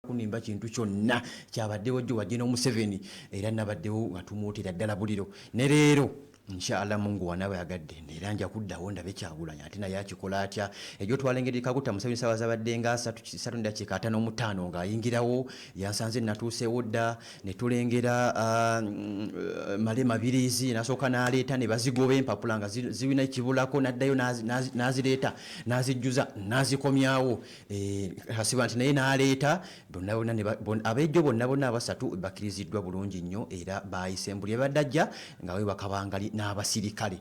kunimba kintu kyonna kyabaddewo jjo wajje n'omuseveni era nabaddewo nga tumuutira ddala buliro ne leero inshallah mungu wanawe agadde era nja kuddawo ndabe kyagulanya ate naye akikola atya egyo twalengedde kaguta museveni sawa zabadde nga asatu kisatu ndakiika atano omutaano ng'ayingirawo yansanze natuusewo dda ne tulengera uh, male mabirizi nasooka n'aleeta ne bazigoba empapula nga ziwina ekibulako n'addayo n'azireeta n'azijjuza n'azikomyawo Eh, hasiba nti naye n'aleeta bonnabonna ab'ejjo bonna bonna abasatu bakkiriziddwa bulungi nnyo era baayise mbuli ebadde ajja nga we bakabangali n'abasirikale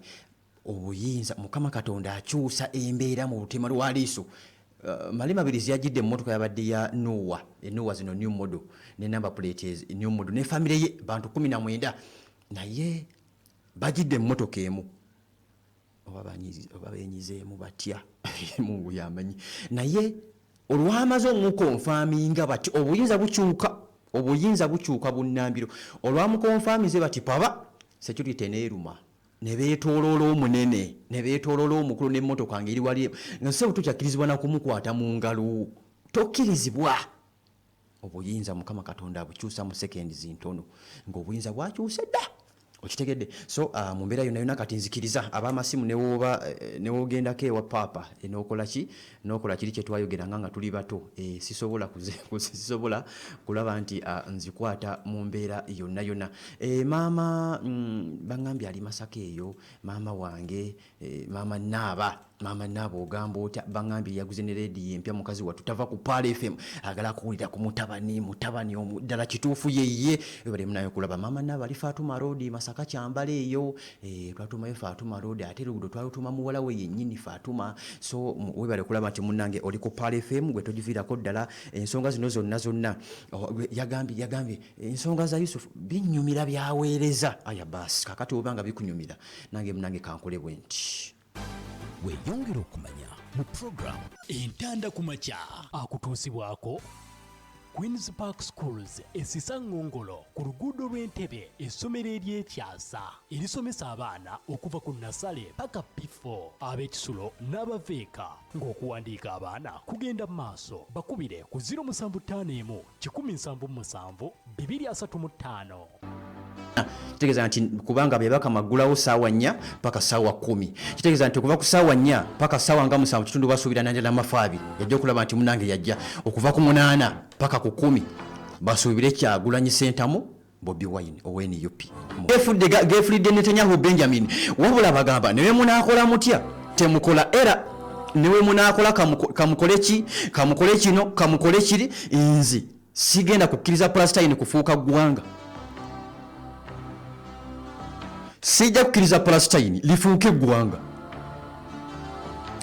obuyinza mukama katonda akyusa embeera mu lutima lwa liiso eh, mali mabirizi yajjidde emmotoka yabadde ya nuwa enuwa zino new model ne number plate new model ne famire ye bantu kumi na mwenda naye bajidde emmotoka emu oba benyizeemu batya mungu yamanyi naye olwamaze omukonfaminga bati obuyinza bukyuka obuyinza bukyuka bunambiro olwamukonfamize bati paba security neeruma nebetoloola omunene nebetoloola omukulu nemotoka nga eri wali nga sebo tokyakkirizibwa nakumukwata mu ngalo tokkirizibwa obuyinza mukama katonda abukyusa mu seconds ntono nga obuyinza bwakyuse dda okitegedde so uh, mu mbeera yonna yonna kati nzikiriza ab'amasimu newoba eh, newogendako ewa paapa eh, nokola ki nokola kiri kyetwayogeranga nga tuli bato e, sisobola sisobola kulaba nti uh, nzikwata mu mbeera yonna yonna e, maama mm, bangambye ali masaka eyo maama wange Eh, mama naaba mama naaba ogamba otya bangambye yaguze ne rediyo empya mukazi wattu tava ku paala fm agala kuwulira ku mutabani mutabani omu ddala kituufu yeye ebali munayo kulaba mama naaba ali fatuma road masaka kyambala eyo eh, twatumayo fatuma road ate lugudo twalutuma muwala we yennyini fatuma so webale kulaba nti munange oli ku paala fm gwe togiviirako ddala ensonga zino zonna zonna oh, yagambye yagambye ensonga za yusufu binyumira byaweereza aya baasi kakati oba nga bikunyumira nange munange kankole bwenti weyongera okumanya mu program entanda ku makya akutuusibwako Queen's Park Schools esisa ngongolo ku luguudo lw'entebe essomero ery'ekyasa erisomesa abaana okuva ku nasale paka pifo ab'ekisulo n'abaveeka ng'okuwandiika abaana kugenda maaso bakubire ku 075 kikumi nsanvu mu musanvu bibiri asatu mu ttaano kitegeeza nti kubanga bebaka magulawo saawa nnya paka saawa kumi kitegeeza nti okuva ku saawa nnya paka saawa nga musanvu kitundu basuubira nanja namafu abiri yajja okulaba nti munange yajja okuva ku munaana paka ku kumi basuubire kyagulanyi sentamu bobi wine ownup efudde gefulidde netanyahu benjamin wabula bagamba newe munakola mutya temukola era newe munakola kamukole ki kamukole kino kamukole kiri nzi sigenda kukkiriza palastine kufuuka ggwanga sijja kukkiriza palastine lifuuke eggwanga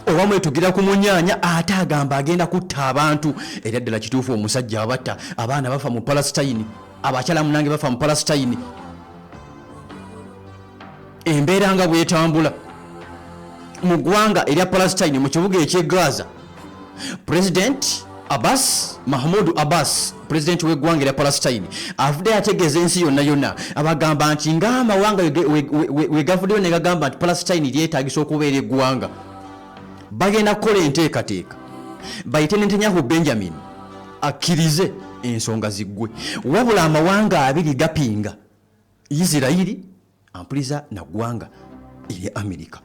oba mwetugira ku munyanya ate agamba agenda kutta abantu era ddala kituufu omusajja abatta abaana bafa mu palastine abakyala munange bafa mu palasitayini embeera nga bwetambula mu ggwanga erya palasitayini mu kibuga eky'e gaza pulezidenti abbas mahmudu abbas pulezidenti w'eggwanga erya palasitayini avuddeyo ategeeza ensi yonna yonna abagamba nti ng'amawanga wegavuddeyo ne gagamba nti palasitayini lyetagisa okubeera eggwanga bagenda kukola enteekateeka bayite nentanyahu benjamin akkirize ensonga ziggwe wabula amawanga abiri gapinga isirairi ampuliza naggwanga eri amerika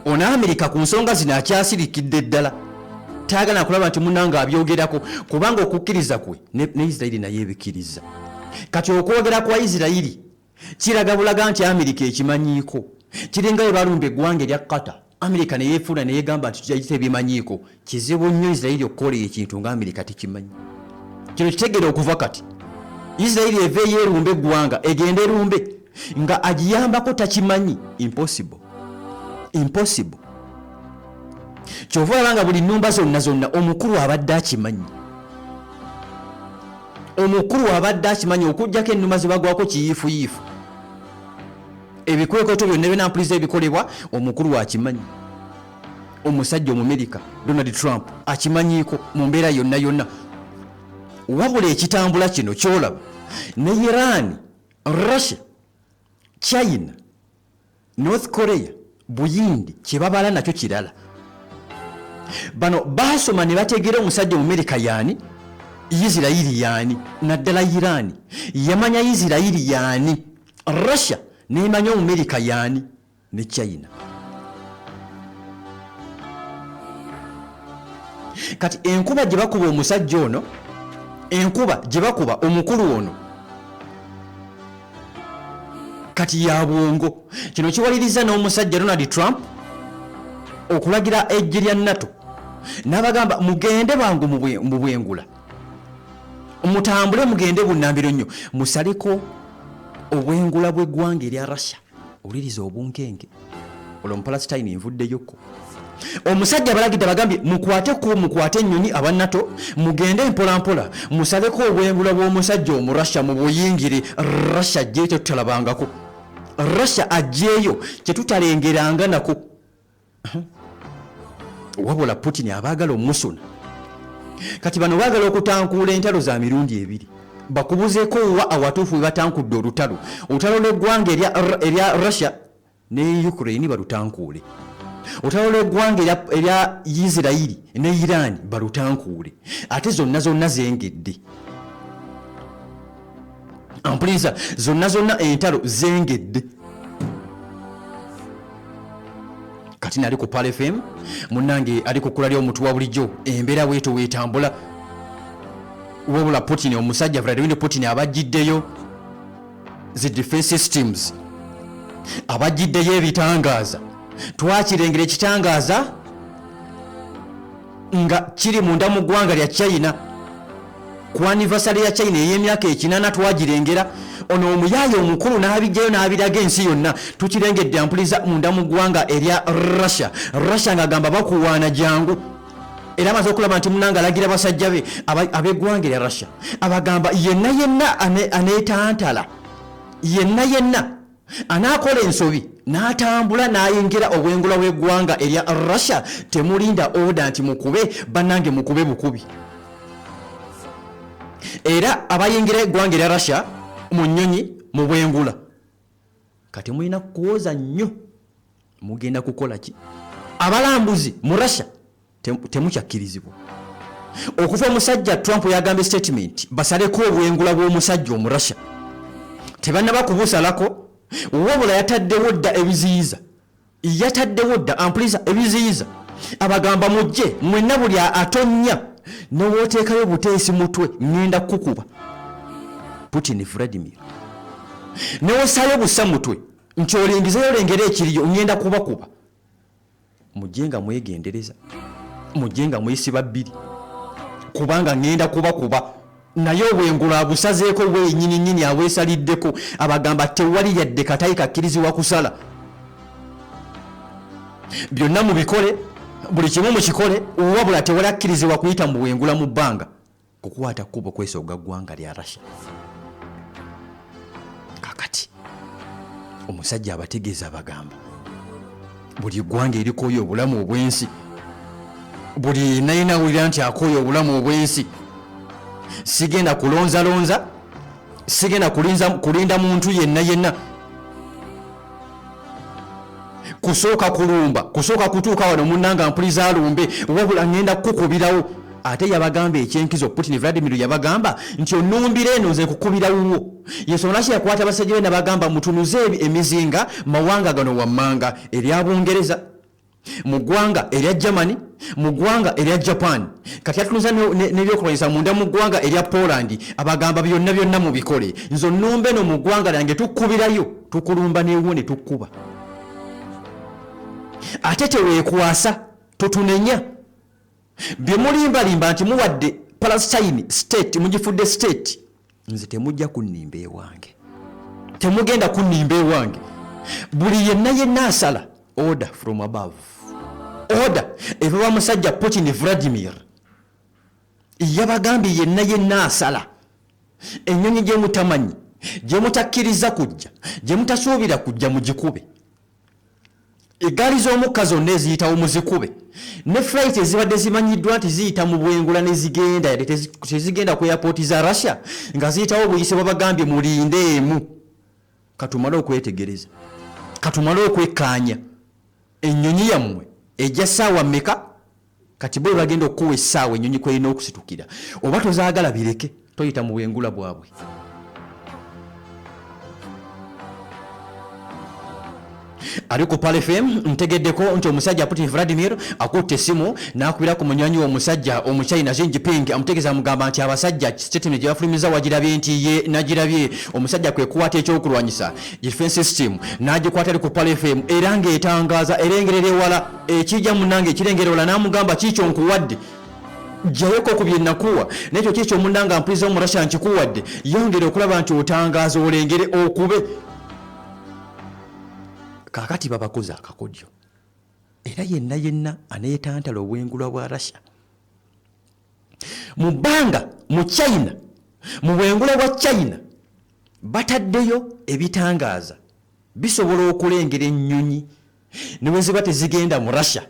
ono amerika ku nsonga zino akyasirikidde ddala tayagala nakulaba nti munanga abyogerako kubanga okukkiriza kwe ne isirairi naye ebikiriza kati okwogera kwa isirairi kiraga bulaga nti amerika ekimanyiiko kiringa bwe balumba eggwanga erya qatar amerika neyefuula neyegamba nti tujaite ebimanyiiko kizibu nnyo isirairi okukola ekintu nga amerika tekimanyi kino kitegere okuva kati isirairi eva eyerumba eggwanga egenda erumbe nga agiyambako takimanyi impossible impossible kyova olaba nga buli numba zonna zonna omukulu abadde akimanyi omukulu abadde akimanyi okujjako ennuma zebagwako kiyiifuyiifu ebikwekweto byonna byenampuliza ebikolebwa omukulu akimanyi omusajja omumerika donald trump akimanyiiko mu mbeera yonna yonna wabula ekitambula kino kyolaba ne iran russia china North Korea, Buyindi kyebabala nakyo kirala. Bano baasoma ne bategeera omusajja Omumerika yaani, Yisirayiri yaani, naddala Yiraani yamanya Yisirayiri yaani, Russia n'emanya Omumerika yaani ne China. Kati enkuba gye bakuba omusajja ono, enkuba gye bakuba omukulu ono, kati ya bwongo kino kiwaliriza n'omusajja ronald trump okulagira ejje lya nato n'abagamba mugende bangu mu bwengula mutambule mugende bunambiro nnyo musaleko obwengula bw'eggwanga erya russia owuliriza obunkenke olwo omupalasitayini nvuddeyoko omusajja abalagidde abagambye mukwate ku mukwate ennyonyi aba nato mugende mpolampola musaleko obwengula bw'omusajja omurussia mu buyingire russia ajjeyo kyetutalabangako russia ajjeeyo kyetutalengeranga nako wabula putin abaagala omusuna kati bano baagala okutankuula entalo za mirundi ebiri bakubuzeko wa awatuufu webatankudde olutalo olutalo lweggwanga erya russia ne Ukraine balutankuule olutalo lw'eggwanga erya Isirayiri ne Iran balutankuule ate zonna zonna zengedde ampuliriza zonna zonna entalo zengedde kati nali ku pal fm munange ali ku kulali omutu wa bulijjo embeera weeto weetambula wabula putin omusajja vladimir putin abajjiddeyo zi defense systems abajjiddeyo ebitangaaza twakirengera ekitangaaza nga kiri munda mu ggwanga lya china ku anivasale ya china ey'emyaka ekinana twagirengera ono omuyaayi omukulu n'abijjayo n'abiraga ensi yonna tukirengedde ampuliza munda mu ggwanga erya russia russia ng'agamba bakuwaana jangu era amaze okulaba nti munanga alagira basajja be ab'eggwanga erya russia abagamba yenna yenna aneetantala yenna yenna anaakola ensobi n'atambula n'ayingira obwengula bw'eggwanga erya russia temulinda oda nti mukube bannange mukube bukubi era abayingira eggwanga erya russia mu nnyonyi mu bwengula kati mulina kuwoza nnyo mugenda kukola ki abalambuzi mu russia temukyakkirizibwa okuva omusajja trump yagambye statement basaleko obwengula bw'omusajja omu russia tebanaba kubusalako wabula yataddewo dda ebiziyiza yataddewo dda ampuliza ebiziyiza abagamba mujje mwenna buli atonnya newooteekayo buteesi mutwe ŋŋenda kukukuba putin vladimir newosaayo busa mutwe nti olingizeyo olengere ekiriyo ngenda kubakuba mujje nga mwegendereza mujje nga mwesiba bbiri kubanga ngenda kubakuba naye obwengulo agusazeeko wenyini nyini abwesaliddeko abagamba tewali yadde katayi kakkirizibwa kusala byonna mubikole buli kimu mukikole wabula tewali akkirizibwa kuyita mu bwengula mu bbanga Kukwata kkubo kwesogga ggwanga lya Russia. Kakati omusajja abategeeza abagamba buli ggwanga erikooya obulamu obw'ensi buli yenayina awulira nti akooya obulamu obw'ensi sigenda kulonzalonza sigenda kulinda muntu yenna yenna kusooka kulumba kusooka kutuuka wano munanga mpuliza alumbe wabula ŋenda kukukubirawo ate yabagamba ekyenkizo putin vladimir yabagamba nti onumbira eno nze kukubira wuwo yesonaki yakwata basajja be nabagamba mutunuze emizinga mawanga gano wammanga erya bungereza mu ggwanga erya germany mu ggwanga erya japan kati atunza nebyokulwanyisa munda mu ggwanga erya poland abagamba byonna byonna mubikole nzo numba eno mu ggwanga lyange tukkubirayo tukulumba newo ne tukkuba ate teweekwasa tutunenya bye mulimbalimba nti muwadde palestine state mugifudde state nze temujja kunnimba ewange temugenda kunnimba ewange buli yenna yenna asala order from above order eva wa musajja putin vladimir yabagambye yenna yenna asala ennyonyi gyemutamanyi gyemutakkiriza kujja gyemutasuubira kujja mugikube Eggaali z'omukka zonna eziyitawo muzikube ne flight ezibadde zimanyiddwa nti ziyita mu bwengula ne zigenda yadde tezigenda ku airport za Russia nga ziyitawo buyise babagambye mulinde emu katumale okwetegereza katumale okwekkaanya ennyonyi yammwe ejja ssaawa mmeka kati bo bagenda okukuwa essaawa ennyonyi kweyina okusitukira oba tozaagala bireke toyita mu bwengula bwabwe ali ku pal fm ntegeddeko nti omusajja putin vladimir akutte essimu n'akubira ku munywanyi w'omusajja omuchina xi jinping amutegeeza amugamba nti abasajja sitetimenti gye bafulumiza wagirabye nti ye nagirabye omusajja kwe kukwata ekyokulwanyisa defense system n'agikwata ali ku pal fm era ng'etangaaza era engerera ewala ekija munange ekirengera ola namugamba kiikyo nkuwadde jjayoko ku bye nakuwa nekyo kiikyo omunange ampuliza omurasha nkikuwadde yongere okulaba nti otangaaza olengere okube kakati babakoze akakodyo era yenna yenna aneyetantala obwengulwa bwa rasha mu bbanga mu china mu bwengula bwa china bataddeyo ebitangaaza bisobola okulengera ennyonyi ne bwe ziba tezigenda mu russia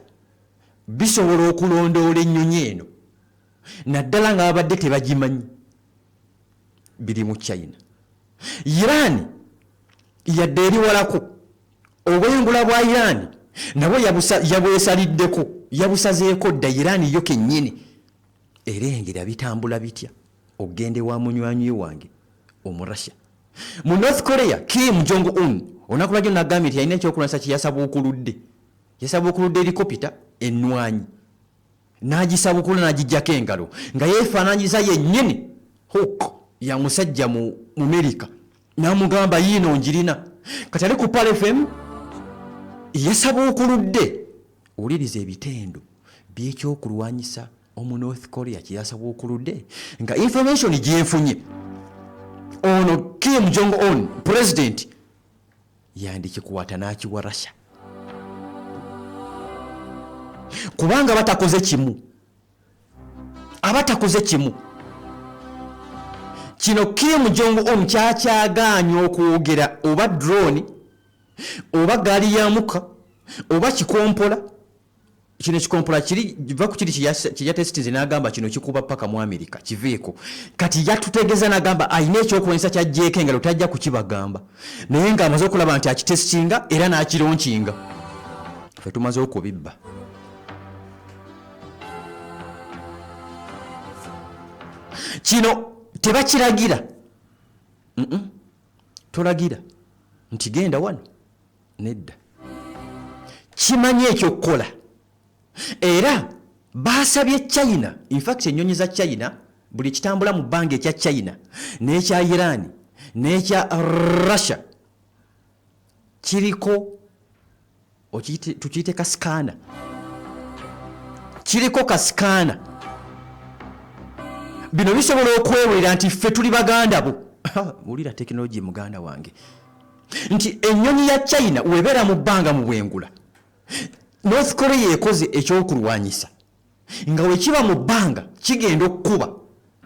bisobola okulondoola ennyonyi eno naddala nga babadde tebagimanyi biri mu china iran yadde eriwalako obwengula bwa iran nabwo yabwesaliddeko yabusazeeko dda iran yo kennyini Erengera bitambula bitya okugenda ewa munywanyi wange omu Russia. Mu North Korea, Kim Jong Un olunaku lwajjo nagambye nti yalina ekyokulwanyisa kye yasabuukuludde. Yasabuukuludde erikopita ennwanyi n'agisabuukula n'agiggyako engalo nga yeefaananyiriza yennyini Hulk ya musajja mu Mumerika namugamba yiino njirina kati ali ku pale fm yasabuukuludde wuliriza ebitendo byekyokulwanyisa omu north korea kyeyasabuukuludde nga information gyenfunye ono kim jong on president yandikikwata n'akiwa russia kubanga batakoze kimu aba takoze kimu kino kim jong un kyakyagaanya okwogera oba drone oba gaali ya muka oba kikompola kino kikompola kiri va ku kiri kyeyatesitize n'agamba kino kikuba paka mu amerika kiveeko kati yatutegeeza n'agamba alina ekyokulwanyisa kya jeeka engalo tajja kukibagamba naye nga amaze okulaba nti akitesitinga era n'akironkinga fe tumaze okubibba kino tebakiragira tolagira nti genda wano nedda kimanyi ekyokukola era baasabye china infact ennyonyi za china buli kitambula mu bbanga ekya china n'ekya irani n'ekya russia kiriko tukiyite kasikaana kiriko kasikaana bino bisobola okwewulira nti ffe tuli baganda bo wulira tekinologi muganda wange nti ennyonyi ya china webeera mu bbanga mu bwengula north korea ekoze ekyokulwanyisa nga wekiba mu bbanga kigenda okukuba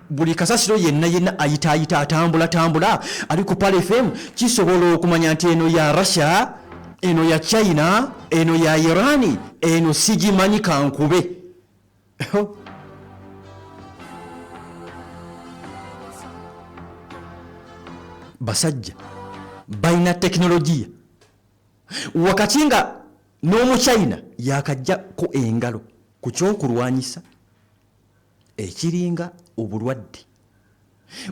buli kasasiro yenna yenna ayitaayita atambula tambula ali ku pale fm kisobola okumanya nti eno ya russia eno ya china eno ya irani eno sigimanyi kankube basajja balina tekinologiya wakati nga n'omuchina yakajjako engalo ku kyokulwanyisa ekiringa obulwadde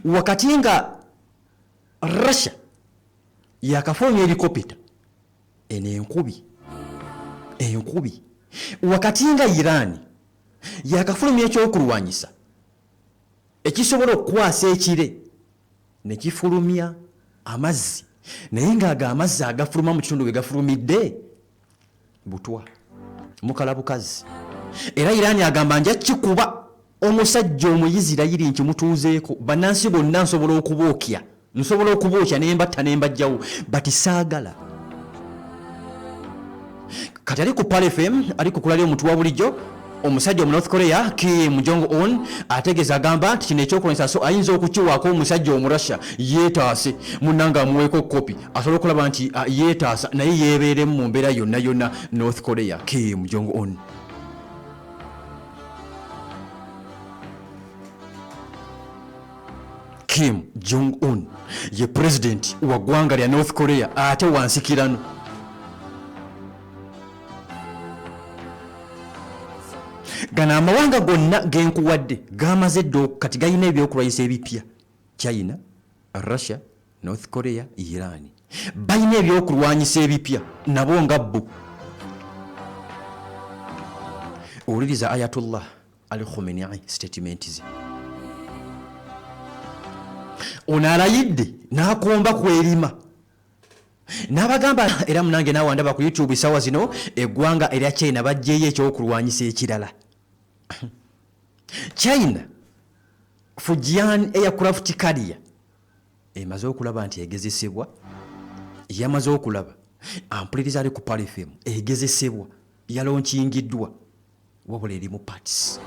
wakati nga russia yakafoonya elikopita eno enkubi enkubi wakati nga irani yakafulumya ekyokulwanyisa ekisobola okukwasa ekire ne kifulumya amazzi naye ng'ago amazzi agafuluma mu kitundu we gafulumidde butwa mukala bukazi era iraani agamba nja kikuba omusajja omuyisirayiri nti mutuuzeeko bannansi bonna nsobola okubookya nsobola okubookya ne mbatta ne mbajjawo bati saagala kati ali ku pal fm ali kukulali omuntu wa bulijjo omusajja omu north korea kim jong un ategeza agamba nti kino ekyokulwanyisa so ayinza okukiwaako omusajja omu russia yeetaase munanga amuweeko kopi asobola okulaba nti ah, yeetaasa naye yeebeeremu mu mbeera yonna yonna north korea kim jong un kim jong un ye pulezidenti wa ggwanga lya north korea ate wansikirano gano amawanga gonna genkuwadde gamaze dda kati galina ebyokulwayisa ebipya china russia north korea iran balina ebyokulwanyisa ebipya nabo nga bbu owuliriza ayatullah Ali Khomenei sitetimenti ze ono alayidde n'akomba kwerima n'abagamba era munange naawe andaba ku youtube esawa zino eggwanga erya china bajjeeyo ekyokulwanyisa ekirala china fujian aircraft carrier emaze okulaba nti egezesebwa yamaze okulaba ampuliriza ali ku palifemu egezesebwa yalonkingiddwa wabula erimu parts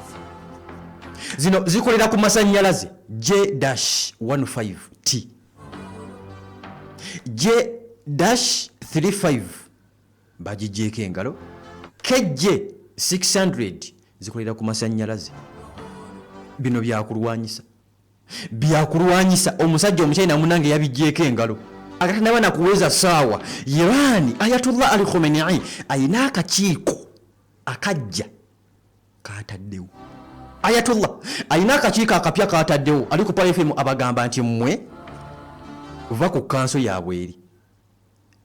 zino zikolera ku masanyalaze j-15 t j-35 bagijjeeko engalo kj 600 zikolera ku masanyalaze bino byakulwanyisa byakulwanyisa omusajja omukyayina munange yabijjeeko engalo agata naba nakuweza saawa irani ayatullah al khomenei ayina akakiiko akajja kataddewo ayatullah alina akakiiko akapya kataddewo ali ku palefemu abagamba nti mmwe va ku kanso yaabwe eri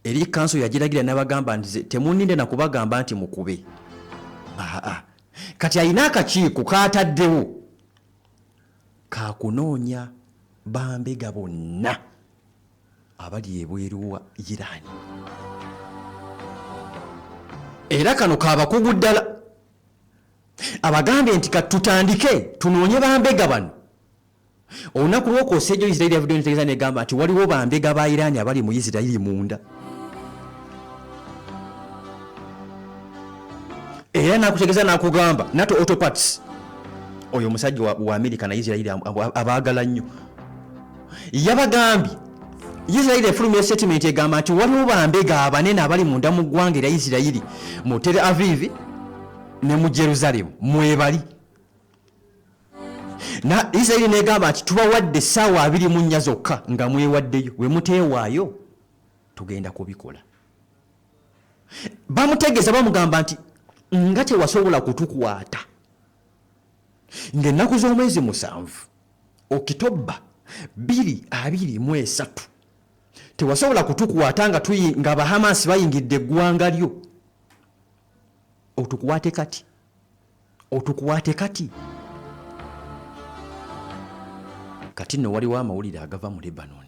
eri kanso yagiragira nabagamba nti temuninde nakubagamba nti mukube aa kati alina akakiiko kataddewo kakunoonya bambega bonna abali ebweru wa Iran. Era kano ka bakugu ddala abagambye nti katutandike tunoonye bambega bano olunaku lwokwosa ejo isirairi yavuddeyo netegeeza negamba nti waliwo bambega ba iraani abali mu isirairi munda era nakutegeeza nakugamba nato autopats oyo omusajja wa amerika na isirairi abaagala nnyo yabagambye isirairi efulumya esitatimenti egamba nti waliwo bambega abanene abali munda mu ggwanga erya isirairi mu tel avivi ne mu jerusalemu mwebali isirairi negamba nti tubawadde essaawa abiri mu nnya zokka nga mwewaddeyo we muteewaayo tugenda kubikola bamutegeeza bamugamba nti nga tewasobola kutukwata ng'ennaku z'omwezi musanvu Okitobba bbiri abiri mu esatu tewasobola kutukwata nga nga Bahamas bayingidde eggwanga lyo otukwate kati otukwate kati kati nno waliwo amawulire agava mu Lebanon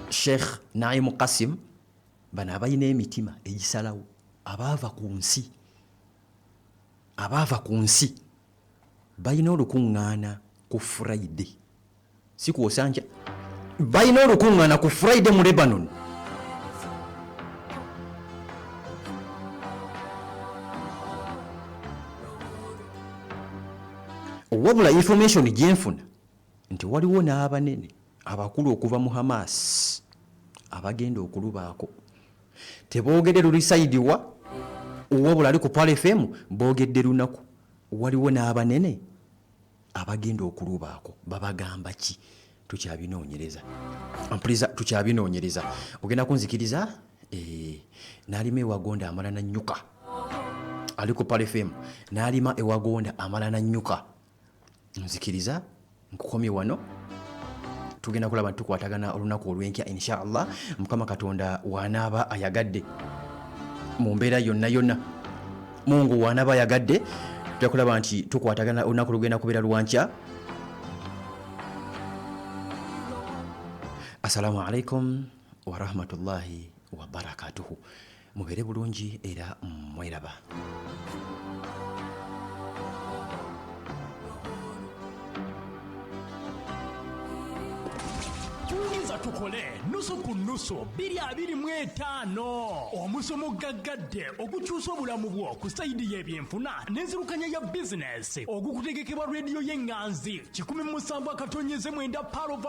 Sheikh Naim Qasim Bano abalina emitima egisalawo abaava ku nsi abaava ku nsi balina olukuŋŋaana ku Friday si kwosa nkya balina olukuŋŋaana ku Friday mu Lebanon wabula information gyenfuna nti waliwo n'abanene abakulu okuva mu Hamas abagenda okulubaako. Teboogedde luli sayidi wa, wabula ali ku Pearl FM boogedde lunaku. Waliwo n'abanene abagenda okulubaako. Babagamba ki? Tukyabinoonyereza. Ampuliza tukyabinoonyereza. Ogenda kunzikiriza? Eh, n'alima ewagonda amala na nyuka. Ali ku Pearl FM n'alima ewagonda amala na nyuka. nzikiriza nkukomye wano tugenda kulaba ntukwatagana olunaku olwenkya inshaallah mukama katonda wanaaba ayagadde mu mbeera yonna yonna mungu wanaaba ayagadde tujja kulaba nti tukwatagana olunaku lugenda kubeera lwankya assalamu alaikum warahmatullahi wabarakatuhu Mubeere bulungi era mweraba. tuwuliza tukole nusu ku nusu biri abiri mu etaano omusomo gaggadde ogukyusa obulamu bwo ku sayidi y'ebyenfuna n'enzirukanya ya bizinesi ogukutegekebwa rediyo y'eŋŋanzi kikumi mu musanvu akatonyeze mwenda palo